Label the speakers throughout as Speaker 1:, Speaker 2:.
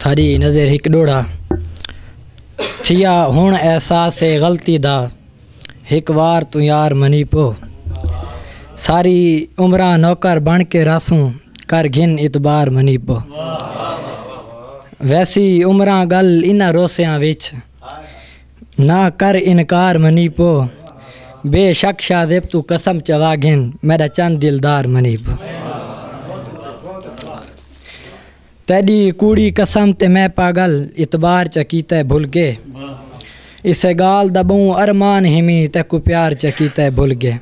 Speaker 1: تھاݙی نظر ہک ݙوہڑا تھیا ہݨ احساس ہے غلطی دا ہک وار توں یار منی پو ساری عمراں نوکر بݨ کے رہسوں کر گھن اعتبار منی پو ویسی عمراں ڳل انہاں روسیاں وچ نہ کر انکار منی پو بے شک شاذیب توں قسم چوا گھن میڈا چند دلدار منی پو تیڈی کوڑی قسم تے میں پاگل اعتبار چا کیتا ہے بھل گئے اسے گال دا بہوں ارمان ہمی تیکوں پیار چا کیتا ہے بھل گئے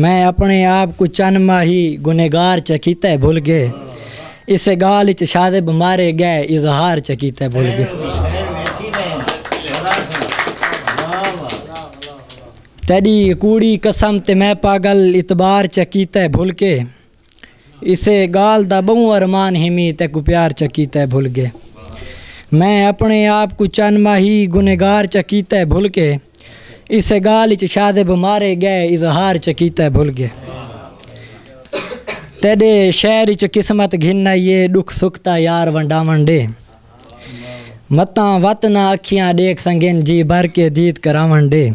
Speaker 1: میں اپݨے آپ کوں چند ماہی گنہگار چا کیتے بھل ڳئے اسے ڳالھ اچ شاذب مارے ڳئے اظہار چا کیتے بھل ڳئے تیݙی کوڑی قسم تے میں پاڳل اعتبار چا کیتے بھل ڳئے اسے گالھ دا بہوں ارمان ہیمی تیکوں پیار چا کیتا ہے بھل گئے میں اپنے آپ کوں چن ماہی گنہگار چا کیتا ہے بھل کے اسے گالھ اچ شادب مارے گئے اظہار چا کیتا ہے بھل گئے تیڈے شہر اچ قسمت گھن آئی ہے ڈکھ سکھ تا یار ونڈاون ڈے متاں وت نہ اکھیاں ڈیکھ سنگن جی بھر کے دیت کراون ڈے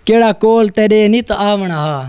Speaker 1: کیڑا کول تیڈے نت آون ہا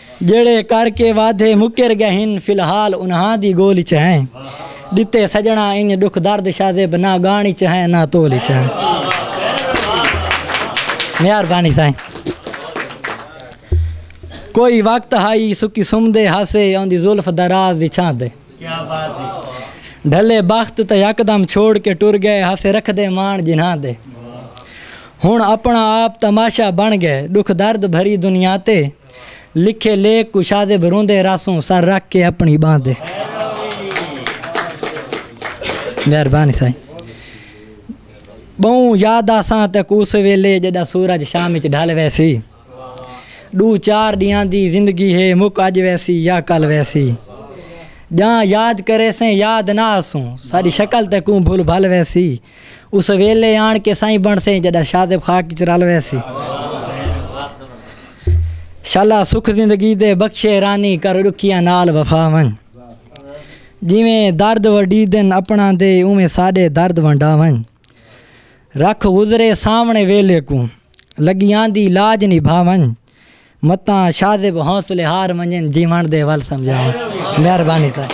Speaker 1: جیڑھے کر کے وعدے مکر گئے ہن فی الحال انہاں دی گول اچ ہیں ڈتے سجنڑاں انج ڈکھ درد شازیب نہ گان اچ ہیں نہ تول اچ ہیں مہربانی سائیں کوئی وقت ہائی سکی سمدے ہاسے اوندی زلف دراز دی چھاں تے ڈھلے بخت تے یکدم چھوڑ کے ٹر گئے ہاسے رکھ دے مان جنہاں تے ہن اپنا آپ تماشا بن گئے ڈکھ درد بھری دنیا تے لکھے لیکھ کشادے بھروندے راسوں سر رکھ کے اپنی بانہہ دے مہربانی سائیں بہوں یاد آساں تک اس ویلے جدا سورج شام وچ ڈھل ویسی ڈو چار ڈیاں دی زندگی ہے مک اج ویسی یا کل ویسی جاں یاد کرے سیں یاد نہ آسوں ساری شکل تکوں بھول بھل ویسی اس ویلھے آن کے سائیں بنڑسیں جڈاں شاذب خاک اچ رل ویسی۔ شالا سکھ زندگی دے بخشے رانی کر ڈکھیاں نال وفا ونج۔ جیویں درد وڈی دن اپنا دے اوویں ساڈے درد ونڈا ونج۔ رکھ گزرے سامنڑے ویلھے کوں لگی آندی لاج نبھا ونج۔ متاں شاذب حوصلے ہار ونجن جیونڑ دے ول سمجھا ونج۔ مہربانی سائیں۔